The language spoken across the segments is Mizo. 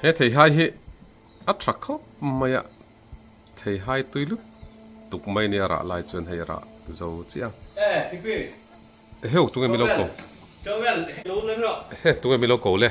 He theihai hi a tha khawp mai a, theihai tui lut tuk mai nia rah lai chuan hei a rah zo chiang. Eheu tunge milo ko he tunge milo ko le.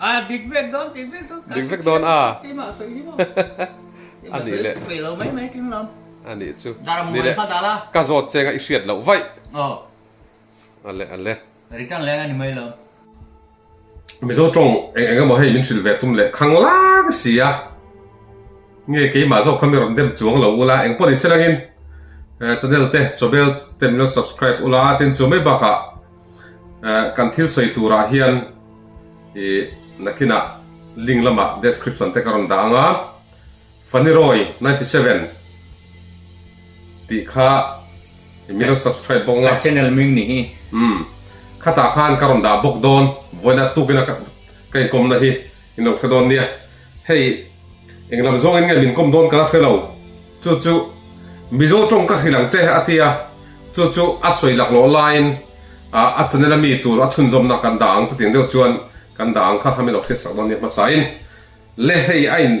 A dik vek dawn dik vek dawn dik vek dawn a a nih leh peilo mai mai tling lo a nih chu nih leh ka zawt chenga i hriat loh vaih aw a le a le return leng a ni mai lo. Mizo tawng eng eng emaw hei min hrilh ve tum leh khang lang si a, nge keimah zawk kha mi rawn dem chuang lo ula eng pawh ni se langin channel te chawbel te min rawn subscribe ula tin chu mai bakah Kan thil sawi turah hian i nakinah link lamah description te ka rawn dah anga Faniroy ninety seven tih kha i min rawn subscribe bawk anga channel ming ni hi khatah khan ka rawn dah bawk dawn vawiinat tukin ka inkomna hi i nohre dawn nia. Hei, eng lam zawngin nge min kawm dawn ka la hre lo. Chu chu Mizo tawng ka hrilh ang che, a ti a. Chu chu a sawi laklawh laiin a Chanel a mi tur a chhunzawmna kan dah ang chuting deuh chuan kan dah ang kha, a min awp hriat sak dawn nia hmasain le hei a in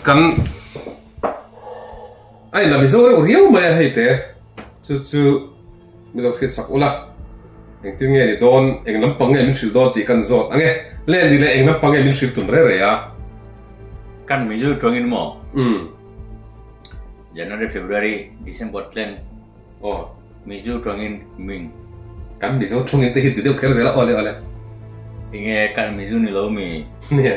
kan a in la Mizo reuh riau mai a hei te chu chu. Min lo thlir chak ula, engtin nge ni dawn, eng lampang nge min hrilh dawn tih kan zawt ange, len ni leh eng lampang nge min hrilh tun rei rei a. Kan min zui tuangin maw? Umm. January, February, December tlem. Aw. Min zui tuangin min. Kan min zui tuangin te hi ti deuh kher zel a, awle awle. Enge kan min zui ni lo mi? Nia.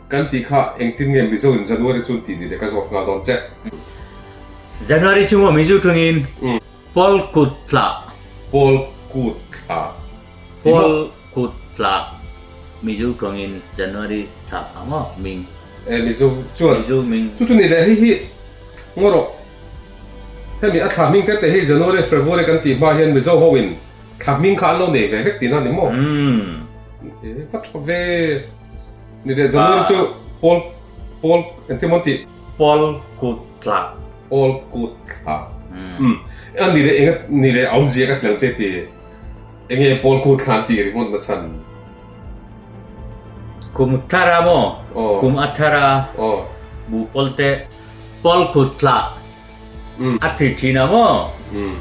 Kan tih kha engtin nge Mizo in January chu tih ni le ka zawt nghal dawn che. January chunga Mizo ṭhung in Pawl kut tlah. Pawl kut tlah. Pawl kut tlah Mizo ṭhung in January tlah ang aw ming. E Mizo chuan. Mizo ming. Chu chu ni le hei hi ngaw rawh. Hemi a thlahming te te hi January February kan tih hma hian Mizo ho in thlahming kha an lo nei ve vek tihna ni maw? Umm. Vat ṭha ve. Ni leh January ah. chu Pawl Pawl engti maw ti? Pawl kut thla. Pawl kut thla. Hmm. An ni leh enga ni leh aum zia ka thiang che ti. Enge Pawl kut thla ti ri mawt na chan. Kum thar a maw? Oh. Kum a thar a. Oh. Bu pawl te Pawl kut thla. Hmm. A thi thin a maw? Hmm.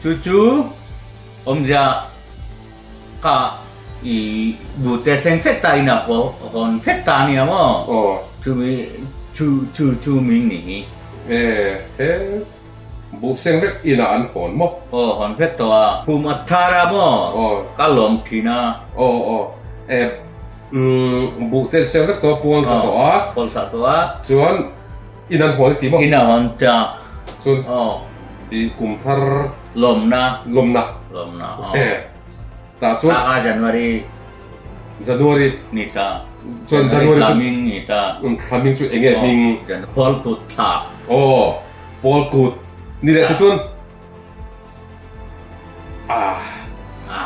Chu chu aum zia Ka i bu te seng fek ta in a hawn fek ta nia maw? Aw. Chumi chu chu chu min ni hi. E, he bu seng vek inah an hawn maw? Aw hawn vek tawh a. Kum a thar a maw? Aw. Ka lawm thin a. Aw aw. E, umm, bu te seng vek tawh a pawl ta tawh a. Aw pawl ta tawh a. Chuan. In an hawl tih maw? In a hawn tih a. Chuan i kum thar. Lawmna. Lawmna. Lawmna aw. E. Tah chuan. Thak a January. January. Ni ta. Chuan January chu. Tlaming ni ta. Tlaming chu eng nge hming? January. Pawl kut thla. Aw. Pawl kut. Ni leh te chuan. A. A.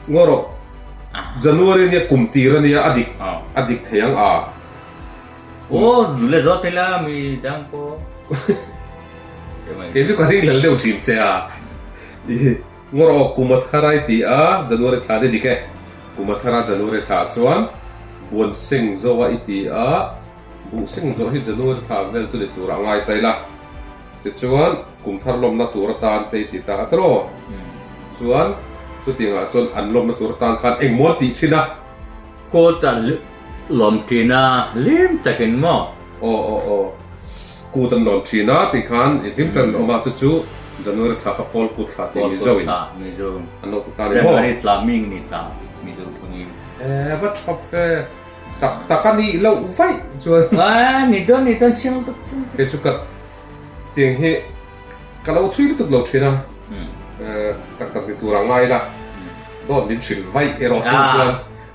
Ngaw rawh. January nia kum tir a nia a dik. A dik thei ang a. Aw, nu le zawt ila mi dang pawh. Kei chu ka ri lal deuh thin che a. Ngaw-rawh Kumatharai ti a, January thla ni dik e. Kumathara January thla chuan Buanseng zawa i ti a, Buhseng zawh hi January thla vel chu ni tur a ngai ta ila. Tichuan, Kumthar lawmna tur atan te i ti ta a tiraw? Chuan, chutiang ah chuan an lawmna tur atan khan engmaw an tih thin a. Court ah. Lawmtihna hlim takin maw? Aw aw aw. Kut an lawm thin a tih khan i hlim takin awm a, chu chu January thla kha Pawl kut thla tih Mizo in an lo ti ta ni maw? January thla mi ni ta Mizo phungin. Eva thawk fe tak tak a nih loh vaih chuan. Aw ni dawn ni dawn chiang duk chiang duk. Kei chu ka tiang hi ka lo chhui lutuk lo thin a, tak tak ni tur a ngai la, dawn min hrilh vaih erawh tih chuan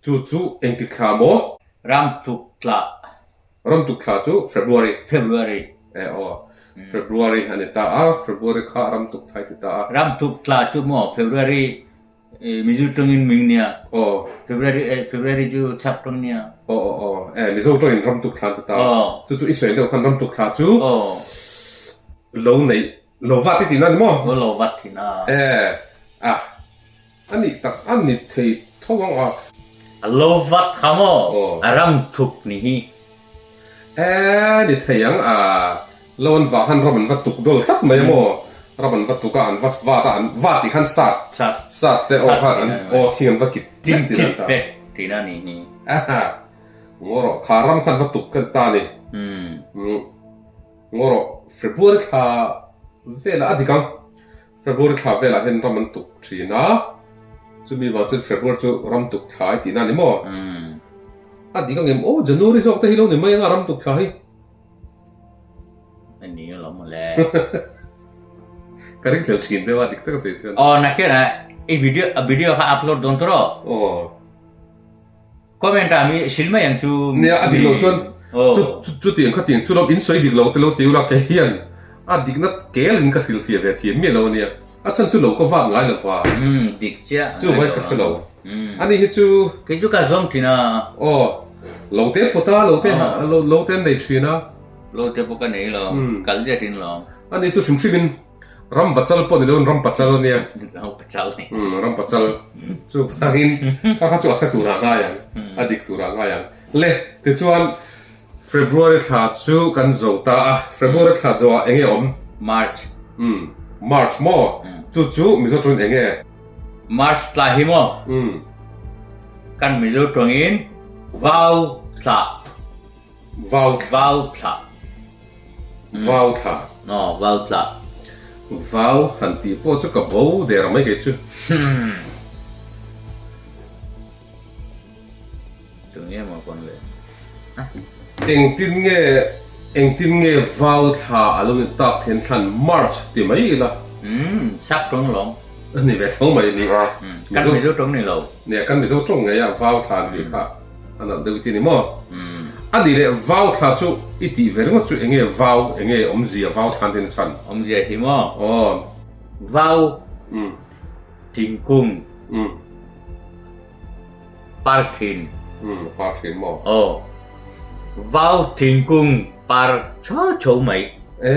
Chu chu engtik thla maw? Ramtuk thla. Ramtuk thla chu February. February. Eh aw. February a ni ta a, February kha ramtuk thlai ti ta a. Ramtuk thla chu maw February Mizo tawngin min nia. Aw. February eh February chu chhak tawng nia. Aw aw aw. Eh Mizo tawngin ramtuk thla an ti ta a. Aw. Chu chu i sawi ang deuh khan ramtuk thla chu. Aw. Lo neih Lo vat i tin a ni maw? Aw lo vat thin a. Eh a a nih tak a ni thei tho ang a. A lo vat kha maw? A ram thup ni hi. Eh a ni thei ang a. Lo an va khan ram an va tuk dawl tlat mai a maw? Ram an va tuk a, an va vat a, an vat tih khan sat sat te aw khan an aw thing an va kip vek tin an ta. Kip vek tin a ni hi. Aha, ngaw rawh kha ram khan va tuk kan ta a ni. Umm. Ngaw rawh, February thla velah a dik ang. February thla velah hian ram an tuk thin a, chumi vang chuan February chu ram tuk thla i tihna a ni maw? A dik ang em? Aw, January zawk te hi lo ni mai anga ram tuk thla hi. A ni alawm maw le? Ka ring thlel thin deuh a, dik taka sawi chuan. Aw, Nakena, i video kha upload dawn tur aw. Aw. Comment ah mi hrilh mai ang chu. Nia a dik lo chuan chu chu tiang kha tiang chu lo in sawi dik lo te lo ti ula kei hian a dik na kel in ka hrilh fia ve thiam miah lo a nia a chhan chu lo ka vat ngai lo va dik chiah chu vai ka hre lo a ni hi chu kei chu ka zawm thin a aw lo te pawt a lo te lo te an nei thin a lo te pawh ka nei lo kal zet in lo a ni chu hrim hrim in Ram vachal pawh ni lo in ram pachal a nia. Ram pachal ni. Hmm, ram pachal. Chu vangin ka kha chu a hre turah ngai ang, a dik turah ngai ang. Le, tichuan February thla chu kan zo ta a, February thla zoah eng nge awm? March. Hmm, March maw? Chu chu Mizo ṭawngin eng nge? March thla hi maw? Hmm. Kan Mizo ṭawngin Vau thla. Vau thlah. Vau thlah. Aw, vau thlah. Vau han tih pawh chu ka bo der mai kei chu. Tun nge maw pawn leh. Engtin nge, engtin nge vau thlah a lo ni tak theih in thlan March ti mai ila. Umm, chak tawng lo. Ni ve thawng mai a ni. Kan Mizo tawng ni lo. Nia, kan Mizo tawng nge a vau thlah an tih kha. A nalh deuh i ti ni maw? A ni le, vau thla chu i tih ve ringawt chu enge vau, enge awmzia vau thla nen a chhan? Awmzia hi maw? Aw. Vau, thingkung, par thin. Par thin maw? Aw. Vau, thingkung, par chho chho mai. E.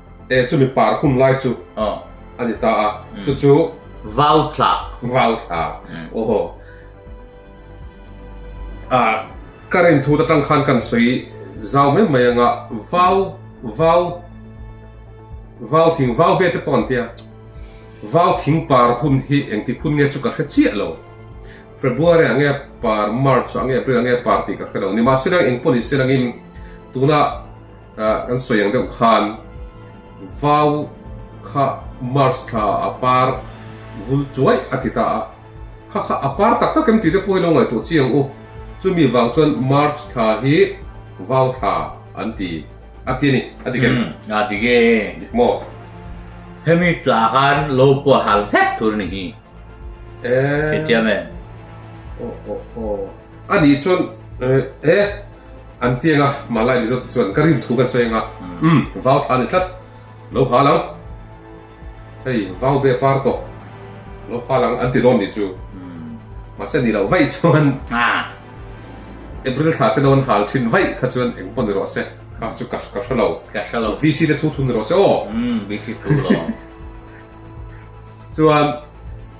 E, chumi par hum lai chu a ni ta a, chu chu. Vau thla. Vau thla, oho. A, ka rin thut atang khan kan sawi zau mai mai anga vau, vau, vau thing, vau bet te pawh an ti a. Vau thing par hun hi engtik hun nge chu ka hre chiah lo. February ah nge par, March ah nge, April ah nge par tih ka hre lo. Nimahse eng pawh ni se langin tuna. Kan sawi ang deuh khan vau kha March thla a par vul chuai a ti ta a, kha kha a par tak tak em tih te pawh hi lo ngaihtuah chiang u, chumi vang chuan March thla hi vau thla an ti a ti a ni, a dik em? A dik e. Dik maw? Hemi tla khan lo puahal vek tur a ni hi. Hriathiam e. Aw aw aw. A nih chuan he an ti anga Malay Mizo te chuan ka rin thu kan sawi anga um vau tha ni tlat lo hal ang hei vau be par tawh lo hal ang an ti dawn ni chu mahse ni lo vaih chuan April thla te dawn hal thin vaih kha chuan eng pawh ni rawh se kha chu ka ka hre lo ka hre lo VC te thu thu ni rawh se aw VC thu lo chuan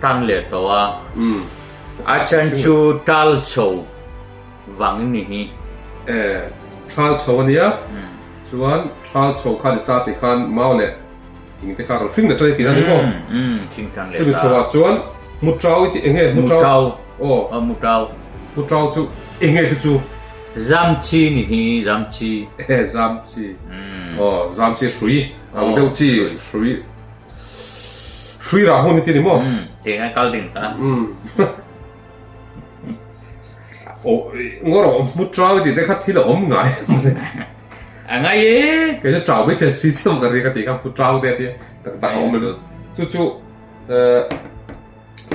Tang leh tawh a, a then chu tal chho vang ni hi. E, thal chho a nia, chuan thal chho kha a ni ta tih khan mau leh thing te kha rawn hring let ta ni tih a ni maw? Chumi chho ah chuan mu tau i tih, eng nge mu tau? Aw, mu tau. Mu tau chu eng nge chu chu? Zam chi ni hi, zam chi. E, zam chi. Aw, zam chi hrui, ang deuh chi hrui. Hrui rah hun iti ni maw? Hmm, tih ngai kal ding ta. Hmm. O, ngor o, mut trao iti te kha thil a om ngai. A ngai e. Kei chu trao mai chen si chim ka ri ka ti ka mut trao te ati tak tak om em. Chu chu eh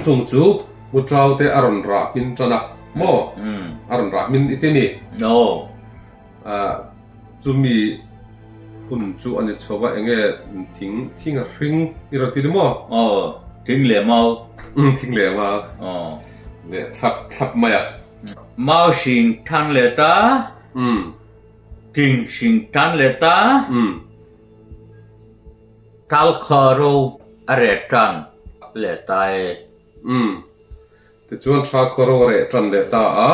chung chu mut trao te aron rah min tana mo. Hmm. Aron rah min iti ni. No. Ah, chumi hun chu a ni chho va, eng nge thing thing a hring i rawn ti ni maw? Aw, thing leh mau. Umm, thing leh mau. Aw. Leh thlap thlap mai a. Mau hring ṭhan leh ta. Umm. Thing hring ṭhan leh ta. Umm. Tal kha ro a reh ṭan leh ta e. Umm. Tichuan ṭha kha ro a reh ṭan leh ta a.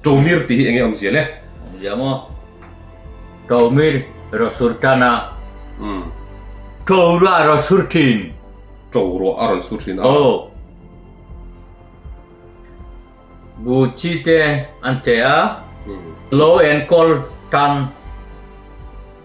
Tawmir tih hi enge awmzia le? Awmzia maw? Tawmir raw sur tan a. Tawm ruah a rawn sur thin. Tawm ruah a rawn sur thin a. Aw. Bu chi te an che a. Law and call tan.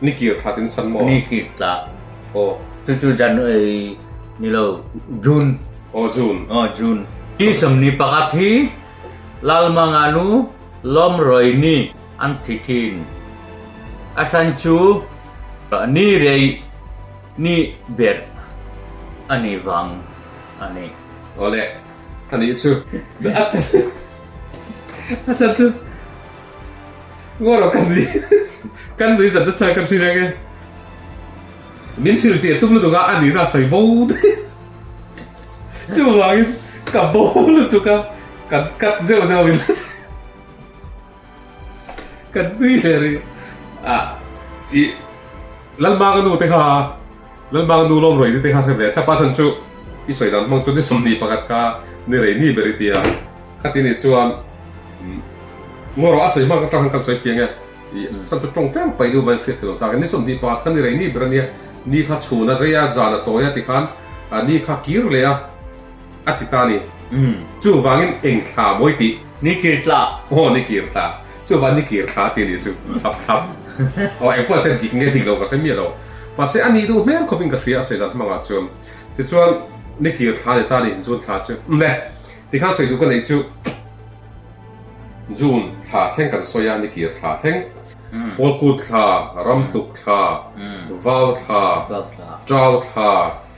Ni kir thla tin chhan maw? Ni kir thla. Aw. Chu chu January ni lo. June. Aw June. Aw June. Hi sawmni pakhat hi Lalmanganu Lawmrawi ni an thi thin. A san chu Ni Rei Ni Ber a nih vang a ni. Awle. A nih chu. A chhan chu. Ngawh lo kan nui kan nui zat nasa kan hrilek e. Min thril ti tum lutuk a a nihna sawi bo daih. Chuvangin ka bo lutuk a kan cut zeuh zeuh min la thei. Kan nui hle ri a i Lalmanga nute kha Lalbang nu lawm rawi ni te kha hre ve thlap a, chan chu i sawi dan hmang chu ni sawmhnih pakhat kha ni rei ni ber i ti a, khati nih chuan Ngaw rawh a sawi hmang atang hian kan sawi fiang e, chan chu tawng tlem paih duh vain hriat theilo takin ni sawmhnih pakhat kha ni rei ni ber a nia, ni kha chhun a rei a, zan a tawi a tikhan ni kha kir leh a. a ti ta ni. Umm. Chu vangin eng thla mawi tih? Ni kir thla. Aw, ni kir thla. Chu vang ni kir thla a ti ni chu. Thlap thlap. Aw, eng pawh a sawi dik nge dik lo ka hre miah lo. Mahse, a nih duh hmel khawpin ka hria a sawi dan hmang ah chuan. Tichuan, ni kir thla a ni ta ni, June thla chu. Um le. Ti khan sawi duh ka neih chu. June thla thleng kan sawi a, ni kir thla thleng. Pawlkut thla, ramtuk thla, vau thla, tau thla.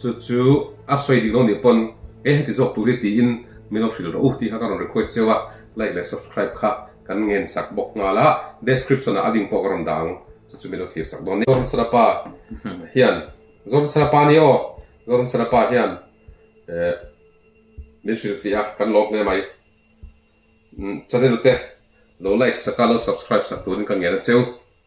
Chu chu a sawi ding lo nih pawn he heti zawk tur hi tiin mi lo hrilh rawh u tih kha ka rawn request che a, like leh subscribe kha kan ngen sak bawk nghal a, description ah a link pawh ka rawn dah ang chu chu mi lo thlir sak dawn nia. Zawrnchhana pa hian Zawrnchhana pa ni aw Zawrnchhana pa hian eh min hril fih a kan lawm hle mai channel te lo like sak a lo subscribe sak turin ka ngen a cheu.